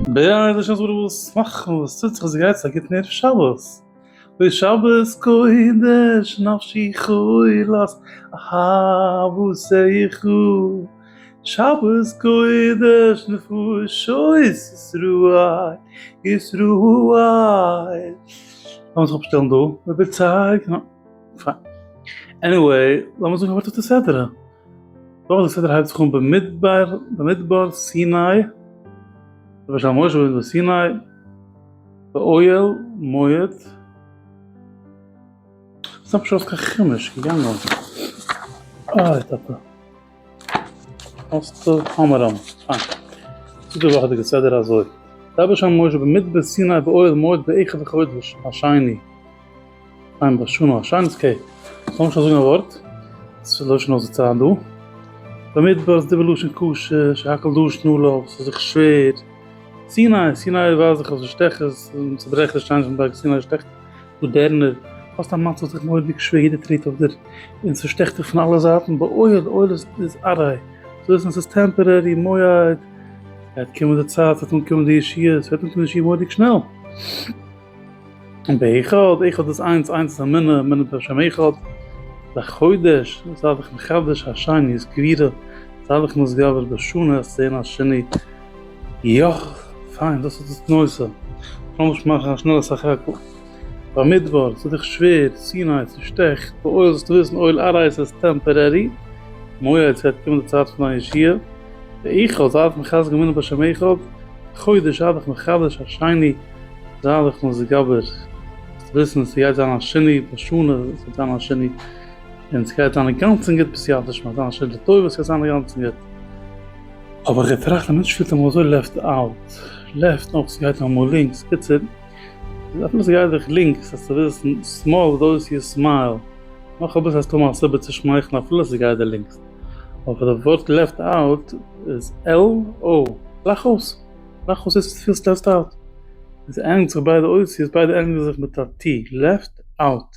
בעזהשי ת וואס מאכט מען וואס טוט זיך וואס גייט זיך א גוטן ערב שבת אוי שבת קודש נפשי חולת אהבות זעיךו שבת קודש נפשות ישראל ישראל לאמיר זיך אפשטעלן דא רבותי פיין. עניוועי, לאמיר זאגן כ'ווארט אויף די סדרה. דאך די סדרה הייבט זיך אן במדבר, במדבר, סיני, למשל משה רבינו איז אין סיני, באוהל מועד. ס'איז נאך נישט ארויס קיין חומש, כ'גיי נאר. איי טאטע. אסתר המרמ, א. צו די וואכעדיגע סדר אזוי, רבי שלום משה במדבר סיני באוהל מועד באחד החודש השני, עיין בשנה השנית כ, לאמיר שוין זאגן א ווארט, ס'איז לשון אויס די צייט דא, במדבר איז די בלשון ק ש, שהכל דשט נא לו, ס'איז זיך שווער, סיני, סיני ווייז איך אז ס'איז שטעכעס, צוברעכעניש שטייען נישט אין בארג סיני שטעכט. מאדערנער, האסט א מצב זיך מורא'דיג שווער יעדער טרעט אויף דיר און ס'שטעכט דיך פון אלע זייטן באויל אויל איז איז ארעי ס'איז אויס און ס'איז טעמפערערי מויד ס'וועט קומען די צייט ס'וועט אנקומען די ישועות ס'וועט אנקומען די ישועה מורא'דיג שנעל און באחד אחד איז איינס איינס איז אמונה אמונה בשם אחד לחודש זיי זיך מחדש השני סקווירא זיי זיך נשגב בשנה עשרים השני יאך, פיין, דאס איז דאס נושא. לאמיך מאכן א שנעלע סך הכל. במדבר, ס'איז דיך שווער, סיני, ס'שטעכט, באוהל זאלסטו וויסן אויל ארייס איז טעמפארערי, מועד ס'וועט קומען די צייט פון דיין ישועה, ואיחוד, זיי זיך מחזק ומונה בשם איחוד, חודש, זיי דיך מחדש, השני, זיי דיך מזגבר, זאלסטו וויסן ס'גייט זיין א שינוי, בשנה, ס'וועט זיין א שינוי, און ס'גייט זיין אינגאנצן גוט בסייעתא דשמיא, ס'וועט זיין א שינוי לטובה, ס'גייט זיין אינגאנצן גוט. אבער איך טראכט אז מענטש פילט אמאל אזוי לעפט אוט, לעפט אויך סגייט אמאל לינקס, קיצור אפילו סגייט דיך לינקס אז סאיז סמאל דאוס יו סמייל, מאך אביסל האסטו אמאל א סיבה צו שמייכלן אפילו סגייט דיר לינקס, אבער פאר די ווארט לעפט אוט איז על או, לאך אויס, לאך אויס דאס וואס פילסט לעפט אוט, עס ענדיגט זיך ביידע אותיות ביידע ענדיגן זיך מיט א טי, לעפט אוט.